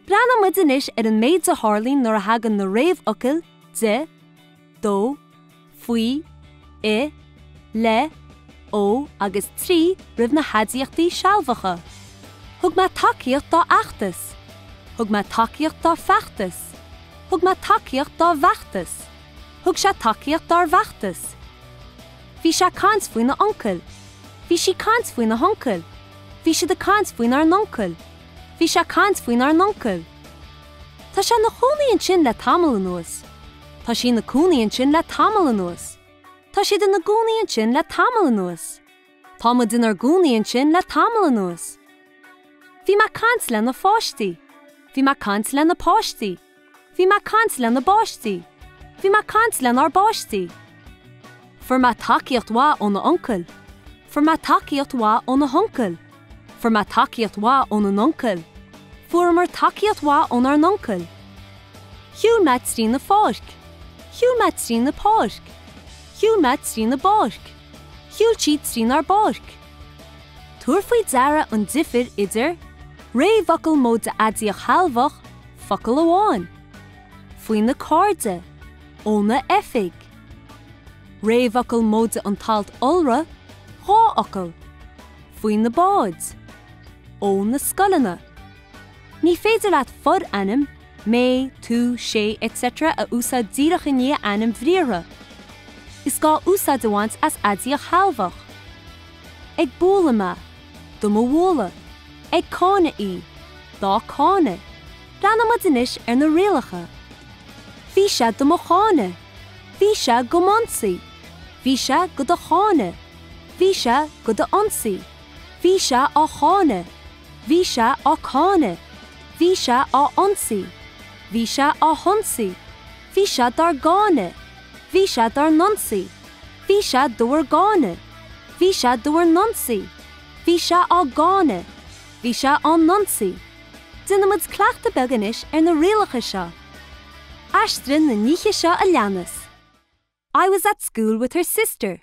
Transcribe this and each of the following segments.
Breathnaímid anois ar an méid a tharlaíonn nuair a thagann na réamhfhocail, de, do, faoi, i, le, ó agus trí roimh na haidiachtaí sealbhacha. Thug mé tacaíocht dá fheachtas. Thug mé tacaíocht dá feachtas. Thug mé tacaíocht dá bhfeachtas. Thug sé tacaíocht dár bhfeachtas. Bhí sé ag caint faoina uncail. Bhí sí ag caint faoina huncail. Bhí siad ag caint faoinár n-uncail. Bhí sé ag caint faoinár n-uncail. Tá sé ina chónaí ansin le tamall anuas. Tá sí ina cónaí ansin le tamall anuas. Tá siad ina gcónaí ansin le tamall anuas. Tá muid inár gcónaí ansin le tamall anuas. Bhí mé ag caint lena pháistí. Bhí mé ag caint lena páistí. Bhí mé ag caint lena bpáistí. Bhí mé ag caint lenár bpáistí. Fuair mé tacaíocht mhaith óna uncail. Fuair mé tacaíocht mhaith óna huncail. Fuair mé tacaíocht mhaith óna n-uncail. Fuaireamar tacaíocht mhaith ónár n-uncail. Shiúil mé trína pháirc. Shiúil mé trína páirc. Shiúil mé trína bpáirc. Shiúil siad trínár bpáirc. Tabhair faoi deara an difir idir réamhfhocal móide aidiacht shealbhach, focal amháin. faoina cairde, óna oifig. Réamhfhocal móide an t-alt iolra, dhá fhocal. faoi na báid, ó na scoileanna. Ní féidir leat forainm, mé, tú, sé, etc. a úsáid díreach i ndiaidh ainm bhriathartha. Is gá úsáid a bhaint as aidiacht shealbhach. Ag bualadh mé, do mo bhualadh. Ag cáineadh í, dá cáineadh. Breathnaímid anois ar na rialacha. Bhí sé do mo cháineadh. Bhí sé do m'ionsaí. Bhí sé do do cháineadh. Bhí sé do d'ionsaí. Bhí sé á cháineadh. Bhí sé á cáineadh. Bhí sé á ionsaí. Bhí sé á hionsaí. Bhí sé dár gcáineadh. Bhí sé dár n-ionsaí. Bhí sé do bhur gcáineadh. Bhí sé do bhur n-ionsaí. Bhí sé á gcáineadh. Bhí sé á n-ionsaí. Déanaimid cleachtadh beag anois ar na rialacha seo. Aistrigh na nithe seo a leanas, I was at school with her sister.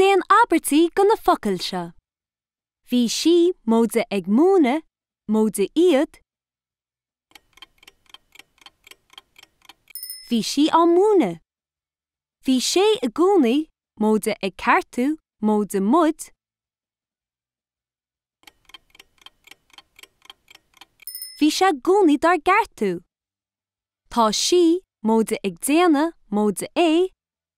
Déan abairtí de na focail seo. Bhí sí, móide ag múineadh, móide iad, Bhí sí á múineadh. Bhí sé i gcónaí, móide ag ceartú, móide muid, Bhí sé i gcónaí dár gceartú. Tá sí, móide ag déanamh, móide é,